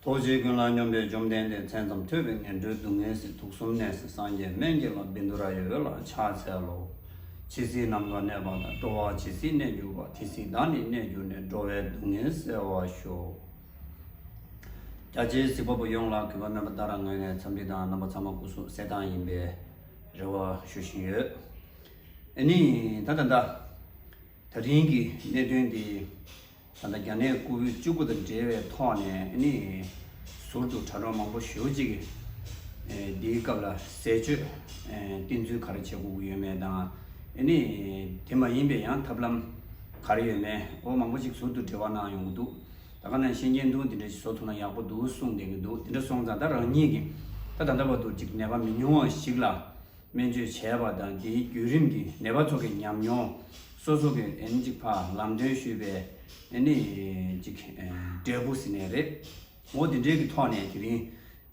རྡོ་རྗེ་ཀུན་ལ་སྙོམས་པའི་བཅོམ་ལྡན་འདས་མཚན་ཙམ་ཐོས་པས་ངན་འགྲོའི་སྡུག་བསྔལ་སྲིད་དུག་གསུམ་ནད་སྲི་སངས་རྒྱས་སྨན་གྱི་ལམ་བིནྡུ་ར་ཡི་འོད་ལ་ཕྱག་འཚལ་ལོ། ཇི་སྲིད་ནམ་མཁའ་གནས་པ་དང་སྤྲོ་བ་ཇི་སྲིད་གནས་གྱུར་པ་དེ་སྲིད་བདག་ནི་གནས་གྱུར་ནས་འགྲོ་བའི་སྡུག་བསྔལ་བསལ་བར་ཤོག། རྒྱ་ཆེའི་གཟིགས་པ་པོ་ཡོངས་ལ་གུས་པ་སྨོན་པ་ལྟར་རང་ངོས་ནས་འཚམས་འདྲི་དང་རྣམ་པ་ཚང་མ་སྐུ་གཟུགས་གསལ་ཐང་ཡིན་པའི་རེ་བ་ཞུ་བཞིན་ཡོད། ཨེ་ནི། ད་ད་ད། ད་རིང་གི་གནད་དོན་འདི། ད་ལྟ་རྒྱ་ནད་ལྐུགས་ཡུལ་བཅུ་དགུ་དང་འབྲེལ་བའི་ཐོག་ནས་ནི། ཟུར་དུ་དྲ་གྲོགས་མང་པོ་ཞོལ་གཅིག་གིས། འདིའི་སྐབས་ལ་ཟས་སྤྱོད་བསྟེན་ཚུལ་ག་རེ་བྱེད་དགོས་ཀྱི་ཡོད་མེད་དང། ནི། དེ་མ་ཡིན་པའི་ཡང་ཐབས་ལམ་ག་རེ་ཡོད་མེད་འོ་མང་པོ་ཅིག་ཟུར་དུ་འབྲེལ་བ་གནང་ཡོང་གི་འདུག་ད་ག་ནང་ཤེས་མཁན་འདུག་འདི་འདྲ་ཞིག་བཟོ་ཐུབ་ན་ཡག་པོ་འདུག་གསུངས་བསྡད་ཀྱི་འདུག་དེ་འདྲ་སོང་ཙང་ད་རང་ཉིད་ཀྱིས་ད་ད་ལྟ་བར་དུ་ཅིག་ནད་པ་མི་ཉུང་བ་ཞིག་ལ་སྨན་བཅོས་བྱས་པ་དང་དེའི་བརྒྱུད་རིམ་གྱི་ནད་པ་ཚོ་གི་ཉམས་མྱོང། སོ་སོ་གི་ཨེ་ནི་ཅིག་ཕ་ལམ་སྟོན་ཞུས་པའི་ཨེ་ནི་ཅིག་འབྲས་བུ་ཟིན་ནས་རེད། ངོ་དེ་འདྲའི་གི་ཐོག་ནས་དེ་རིང་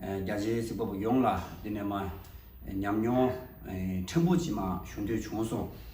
རྒྱ་ཆེའི་གཟིགས་པ་པོ་ཡོངས་ལ་འདི་ནས་མ་ཉམས་མྱོང་ཕྲན་བུ་ཅི་མ་ཞུ་འདོད་བྱུང་སོང།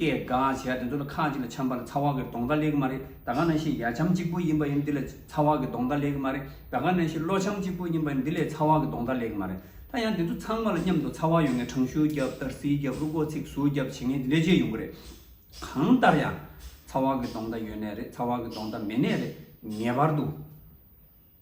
སྐད་འགའ་བྱས་ཡ་དེ་ཚོ་ལ་ཁ་ཅིག་ལ་ཆམ་པ་ལ་ཚ་བ་གི་གདོང་འདྲ་ལེགས་མ་རེད་ད་ག་ན་ཤི་ཡ་ཆམ་གཅིག་པོ་ཡིན་པ་ཡིན་འདི་ལ་ཚ་བ་གི་གདོང་འདྲ་ལེགས་མ་རེད་ད་ག་ན་ཤི་གློ་ཆམ་གཅིག་པོ་ཡིན་པ་ཡིན་འདི་ལས་ཚ་བ་གི་གདོང་འདྲ་ལེགས་མ་རེད་ད་ཡང་དེ་ཚོ་ཚང་མ་ལ་མཉམ་དུ་ཚ་བ་ཡོང་ངེས་གྲང་ཤུར་རྒྱབ་དར་སིལ་རྒྱབ་རུ་སྒོ་ཚིགས་ཟུར་རྒྱབ་བྱེད་ངེས་ལས་ཅི་ཡོང་གི་རེད་གང་ལྟར་ཡང་ཚ་བ་གི་གདོང་འདྲ་ཡོད་ནའི་རེད་ཚ་བ་གི་གདོང་འདྲ་མེད་ནའི་རེད་ངེས་པར་དུ།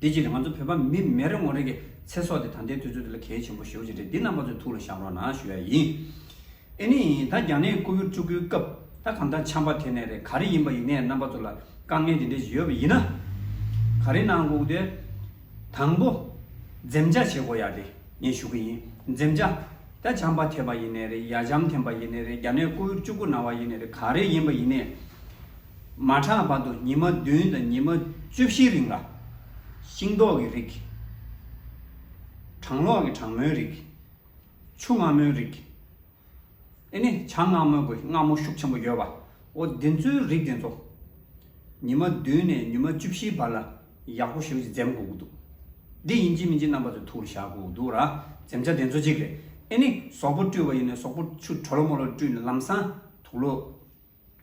དེ་བྱས་ཏེ་ང་ཚོ་བོད་པ་མི་མེ་རི་ངོ་རི་གི་ཚེ་སྲོག་དེ་ད་ལྟའི་དུས་ཚོད་འདི་ལ་གལ་ཆེན་པོ་ཞེ་བོ་ཅིག་རེད་འདི་རྣམ་པ་ཚོའི་ཐུགས་ལ་བཞག་རོགས་གནང་ཞུ་ཡ་ཡིན། ཨེ་ནི་ད་རྒྱ་ནད་ལྐུགས་གཡུར་བཅུག་ཁུལ་སྐབས་ད་གང་ལྟར་འཆམ་པ་དེ་ནས་རེད་ག་རེ་ཡིན་པ་ཡིན་ནས་རྣམ་པ་ཚོ་ལ་དཀའ་ངལ་དེ་འདྲས་ཞིག་ཡོད་པ་ཡིན་ན། ག་རེ་གནང་སྒུག་དེ། དང་པོ། འཛེམ་བྱ་བྱེད་དགོས་ཡ་དེ་ངས་ཞུ་གི་ཡིན་འཛེམ་བྱ། ད་འཆམ་པ་ཐེབས་པ་ཡིན་ནས་རེད་ཡ་འཆམ་ཐེམ་པ་ཡིན་ནས་རེད་རྒྱ་ནད་ལྐུགས་གཡུར་བཅུག་ཁུལ་གནང་བ་ཡིན་ནས་རེད་ག་རེ་ཡིན་པ་ཡིན་ནས། མ་གྲངས་བར་དུ་ཉི་མ་བདུན་དང་ཉི་མ་བཅུ་བཞིའི་རིང་ལ། ཤིང་ཏོག་གི་རིགས། གྲང་ལོག་གི་གྲང་མོའི་རིགས། ཆུ་མངར་མོའི་རིགས། ཨེ་ནི་བྱ་མངར་མོའི་གོས་མངར་མོ་ཤུགས་ཆེན་པོ་ཡོད་པའོ། འདི་ཚོའི་རིགས་དེ་ཚོ། ཉི་མ་བདུན་ནས་ཉི་མ་བཅུ་བཞིའི་བར་ལ་ཡག་པོ་ཞིག་འཛེམ་དགོས་ཀྱི་འདུག། འདི་ཡིན་གཅིག་མིན་གཅིག་རྣམ་པ་ཚོས་ཐུགས་ལ་བཞག་དགོས་ཀྱི་འདུག་ར། འཛེམ་བྱ་དེ་ཚོ་གཅིག་རེད། ཨེ་ནི་ཟོག་པོ་བཀྲུས་པ་ཡིན་ནས་ཟོག་པོ་ཆུ་དྲོ་ལོ་མོ་ལ་བཀྲུས་ནས་ལམ་སང་དུག་ལོ།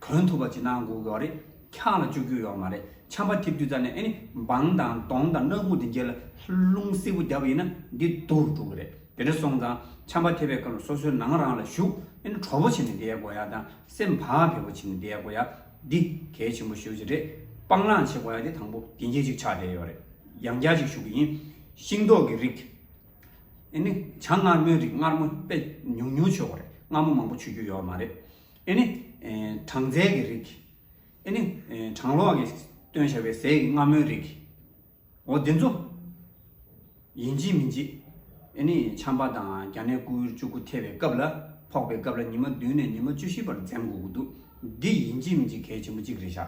གོན་ཐུབ་པ་བྱེད་ན་འགུག་ཡོག་རེད། འཁྱག་ལ་བཅུག་རྒྱུ་ཡོག་མ་རེད་ཆམ་པ་ཐིབ་རྒྱུ་ཙ་ནས་ཨེ་ནི་འབངས་དང་གདོང་དང་སྣ་ཁུག་དེ་འགྱེལ་ལ་རླུང་སིལ་བུ་རྒྱབ་ཡིན་ན་འདི་རྡུར་འགྲོ་གི་རེད་དེ་འདྲ་སོང་ཙང་ཆམ་པ་ཐེབ་པའི་སྐབས་ལ་སོ་སོའི་ནང་རང་ལ་བཞུགས་ཨེ་ནི་གྲོ་བོ་བྱེད་ནས་བསྡད་དགོས་ཡག་དང་སེམས་བག་ཕེབས་པོ་བྱེད་ནས་བསྡད་དགོས་ཡག་འདི་གལ་ཆེན་པོ་ཤོས་ཅིག་རེད་སྤང་བླང་བྱེད་དགོས་ཡག་དེ་དང་པོ་དེ་འགྱེལ་ཅིག་ཆགས་བསྡད་ཡོག་རེད་ཡང་བསྐྱར་ཅིག་ཞུ་གི་ཡིན། ཤིང་ཏོག་གི་རིགས། ཨེ་ནི་བྱ་མངར་མོའི་རིགས་མངར་མོ་དཔེ་ཉུང་ཉུང་ཆོད་གོ་རེད་མངར་མོ་མང་པོ་ཆུ་རྒྱུ་ཡོག་མ་རེད། ཨེ་ནི། གྲངས་ཚད་ཀྱི་རིགས། ཨེ་ནི། གྲངས་ལོག་གི། སྟོན་བྱ་བའི་ཟས་ཀྱི་རྔ་མོའི་རིགས། འོ་འདི་ཚོ། ཡིན་གཅིག་མིན་གཅིག། ཨེ་ནི། བྱམས་པ་དང་རྒྱ་ནད་སྐུ་ཡུལ་བཅུ་དགུ་ཐེ་བའི་སྐབས་ལ། ཕོག་པའི་སྐབས་ལ་ཉི་མ་བདུན་ནས་ཉི་མ་བཅུ་བཞི་བར་འཛེམ་དགོས་ཀྱི་འདུག་འདི་ཡིན་གཅིག་མིན་གཅིག་གལ་ཆེན་པོ་གཅིག་རེད་ཤག་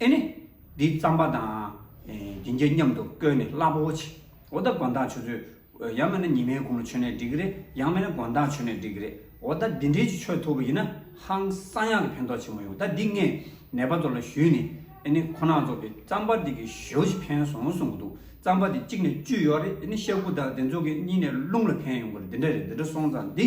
ཨེ་ནི། འདི་བརྩམས་པ་དང། སྦྱིན་བྱེད་མཉམ་དུ་བསྐོལ་ནས་བསླབ་བོ། འོ་ད་དགོན་བདག་ཆུ་ཚོད། ཡང་མེད་ན་ཉི་མའི་དགུང་ལོ་ཆོད་ནས་འགྲིག་གི་རེད་ཡང་མེད་ན་དགོན་བདག་ཆོད་ནས་འགྲིག་གི་རེད་འོ་ད་འདི་འདྲའི་ཆུ་ཆོད་ཐུབ་པ་ཡིན་ན་ཧང་བསང་ཡག་གི་ཕན་ཐོག་ཆེན་པོ་ཡོང་ད་འདི་ངས་ནད་པ་ཚོ་ལ་ཞུས་ནས་ཨེ་ནི་ཁོ་ནག་ཚོ་གི་རྩམ་པ་འདི་གི་ཞོ་ཞིག་ཕན་སོང་གསུང་གི་འདུག་རྩམ་པ་འདི་གཅིག་ནས་བཅུ་ཡོད་རེད་ཨེ་ནི་ཤ་ཁུ་དག་དེ་ཚོ་གི་གཉིས་ནས་རླུང་ལ་ཕན་ཡོང་གི་རེད་འདི་འདྲ་རེད་འདི་འདྲ་སོང་ཙང་འདི།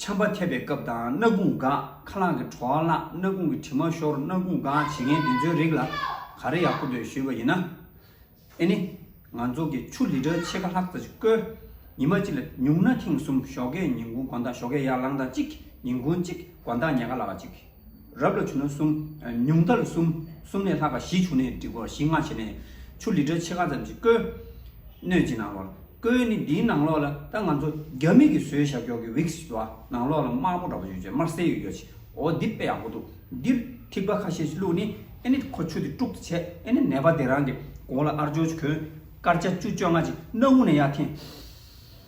ཆམ་པ་ཐེབས་པའི་སྐབས་དང་སྣ་དགུང་འགག་ཁ་རླངས་ཀྱི་བྲོ་བ་བརླག་སྣ་དགུང་གི་དྲི་མ་ཤོར་སྣ་དགུང་འགག་བྱེད་མཁན་དེ་ཚོའི་རིགས་ལ་ག་རེ་ཡག་པོ་འདོད་ཞུས་པ་ཡིན་ན། ཨེ་ནི། ང་ཚོ་གི་ཆུ་ལི་ཏྲ་ཕྱེད་ཀ་ལྷག་ཙ་ཅིག་བརྐོས། ཉི་མ་གཅིག་ལ་ཉུང་ན་ཐེངས་གསུམ་ཞོགས་ཀས་ཉིན་གུང་གོ་ཟླ་ཞོགས་ཀས་ཡར་ལངས་ཟླ་གཅིག་ཉིན་གུང་གཅིག་གོ་ཟླ་ཉལ་ཁ་ལ་བ་གཅིག། རབ་ལ་བྱུང་ན་གསུམ། ཉུང་མཐར་གསུམ། གསུམ་ལས་ལྷག་པ་བཞི་བྱུང་ནས་འགྲིག་གོ་བཞི་ལྔ་བྱས་ནས། ཆུ་ལི་ཏྲ་ཕྱེད་ཀ་ཙམ་ཞིག་བསྐོལ། སྣོད་ཀྱི་ནང་ལོགས་ལ། བསྐོལ་ནི་འདིའི་ནང་ལོགས་ལ་ད་ང་ཚོ་རྒྱ་མིག་གིས་བཟོས་ཞབས་ཀྱོག་གི་བིག་སི་བ་ནང་ལོགས་ལ་དམར་པོ་འདྲ་བོ་ཡོད་ཅེ་དམར་སེར་ཡོད་ཡོད་ཅེ། འོ་འདི་དཔེ་ཡག་པོ་འདུག་འདིར་ཐིགས་པ་ཁ་ཤས་ཤིག་བླུགས་ནས་ཨེ་ནི་ཁོ་ཆུ་དེ་དཀྲུག་ཏུ་ཆས་ཨེ་ནི་ནད་པ་དེ་རང་གི་གོང་ལ་ཨར་ཅོ་ཅིག་གོན། སྐར་ཆ་བཅུ་བཅོ་ལྔ་ཅིག་སྣ་དབུགས་ནས་ཡར་འཐེན།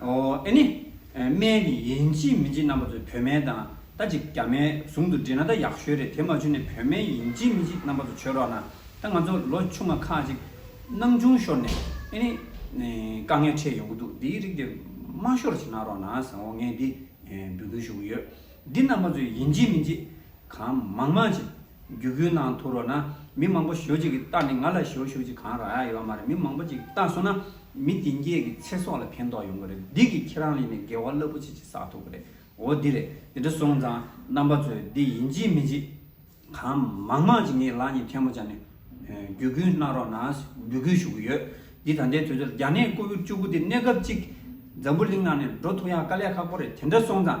ཨེ་ནི། སྨན་ནི་ཡིན་ཅི་མིན་ཅི་རྣམ་པ་ཚོས་བོད་སྨན་དང་ད་ཅིག་རྒྱ་སྨན་ཟུང་དུ་འབྲེལ་ན་ད་ཡག་ཤོས་རེད་དེ་མ་བྱུང་ནས་བོད་སྨན་ཡིན་ཅི་མིན་ཅི་རྣམ་པ་ཚོ་བྱོས་རོགས་གནང་ད་ང་ཚོ་ལོ་ཆུང་མ་ཁག་ཅིག་སྣང་ཆུང་ཤོར་ནས་ཨེ་ནི། དཀའ་ངལ་འཕྲད་ཡོང་གི་འདུག་འདིའི་རིགས་དེ་མ་ཤོར་བྱེད་གནང་རོགས་གནང་བཟང་བོ་ངས་འདི་འབུལ་འདུན་ཞུ་གི་ཡོད་འདི་རྣམ་པ་ཚོས་ཡིན་ཅི་མིན་ཅི་གང་མང་མང་བྱེད། རྒྱུ་བོད་ནང་ཐུག་རོགས་ན་མི་མང་པོ་ཞོ་གཅིག་གི་རྟགས་ནི་ང་ལ་ཞོ་ཞོ་གཅིག་གང་རག་ཡ་ཡོད་མ་རེད་མི་མང་པོ་གཅིག་རྟགས་བཟོ་ན་མི་དེ་འགས་ཀྱི་ཚེ་སྲོག་ལ་ཕན་ཐོག་ཡོང་གི་རེད་འདི་གི་ཁྱེད་རང་ལས་ནས་དགེ་བ་རླབས་པོ་ཆེ་གཅིག་བསགས་ཐུབ་གི་རེད་འོ་འདི་རེད་འདི་འདྲ་སོང་ཙང་རྣམ་པ་ཚོས་འདི་ཡིན་ཅི་མི་ཅི་གང་མང་མང་ཅིག་ངའི་ལག་གཉིས་ཐལ་མོ་སྦྱར་ནས་བརྒྱུད་སྐུལ་གནང་རོགས་ནས་འབུད་སྐུལ་ཞུ་གི་ཡོད་འདི་ད་ལྟའི་དུས་ཚོད་ལ་རྒྱ་ནད་ཀོ་བུད་བཅུ་དགུ་འདི་གནས་སྐབས་གཅིག་འཛམ་བུ་གླིང་ནང་ནས་འགྲོ་ཐུག་ཡག་དཀའ་ལས་ཁག་པོ་རེད་དེ་འདྲ་སོང་ཙང།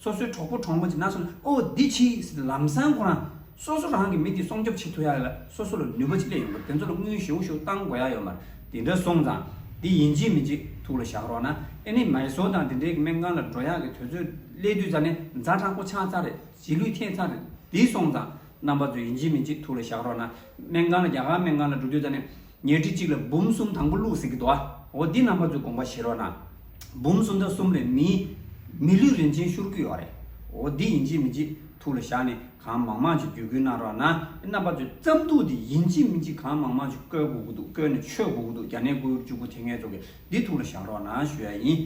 སོ་སོའི་གྲོགས་པོ་གྲོགས་མོ་དེ་ནང་སོང་ནས་ཨོ་འདི་ཕྱིས་ཟེར་ནས་ལམ་སང་ཁོ་རང་སོ་སོ་རང་གི་མི་དེ་སྲོང་སྐྱོབ་བྱེད་ཐུབ་ཡག་ཡོད་ལ་སོ་སོ་ལ་ནུས་པ་ཅི་ལས་ཡོང་གི་དེ་ཚོ་ལ་དངུལ་ཞུ་ཞུ་བཏང་དགོས་ཡག་ཡོད་མ་རེད་དེ་འདྲ་སོང་ཙང་དེ་ཡིན་གཅིག་མིན་གཅིག་ཐུགས་ལ་བཞག་རོགས་ན་ཨེ་ནི་མ་ཡི་བཟོ་དང་དེ་འདྲའི་གི་སྨན་ཁང་ལ་འགྲོ་ཡག་གི་དོལ་ཚོའི་ཀླད་དུས་ཙང་ནས་མཛའ་དྲང་པོ་ཆགས་ཚར་རེད་རྗེས་ལུས་ཐེག་ཚར་རེད་དེ་སོང་ཙང་རྣམ་པ་ཚོ་ཡིན་གཅིག་མིན་གཅིག་ཐུགས་ལ་བཞག་རོགས་ན་སྨན་ཁང་ལ་རྒྱ་གར་སྨན་ཁང་ལ་འགྲོ་དུས་ཙང་ནས། ཉེར་བྲི་གཅིག་ལ་འབུམ་གསུམ་དང་པོ་བླུགས་ཟིན་གྱི་དོ། འོ་འདི་རྣམ་པ་ཚོའི་དགོངས་པ་བཞེས་རོགས་གནང། འབུམ་གསུམ་དང་གསུམ་ལས་མི། མི་ལུས་རིན་ཆེན་ཤུར་གུས་ཡོད་རེད། འོ་འདི་ཡིན་གཅིག་མིན་གཅིག་ཐུགས་ལ་བཞག་ནས་གང་མང་མང་ཅིག་བརྒྱུད་བསྐུལ་གནང་རོགས་གནང། རྣམ་པ་ཚོའི་རྩམ་ཐུག་འདི་ཡིན་གཅིག་མིན་གཅིག་གང་མང་མང་ཅིག་བཀོལ་དགོས་ཀྱི་འདུག་བཀོལ་ནས་མཆོད་དགོས་ཀྱི་འདུག་རྒྱ་ནད་ཀོའུ་ཡུར་བཅུ་དགུ་དེ་ངས་ཚོགས་ཀྱི་འདི་ཐུགས་ལ་བཞག་རོགས་གནང་ཞུ་ཡ་ཡིན།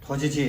ཐོ་ཆེ་ཆེ།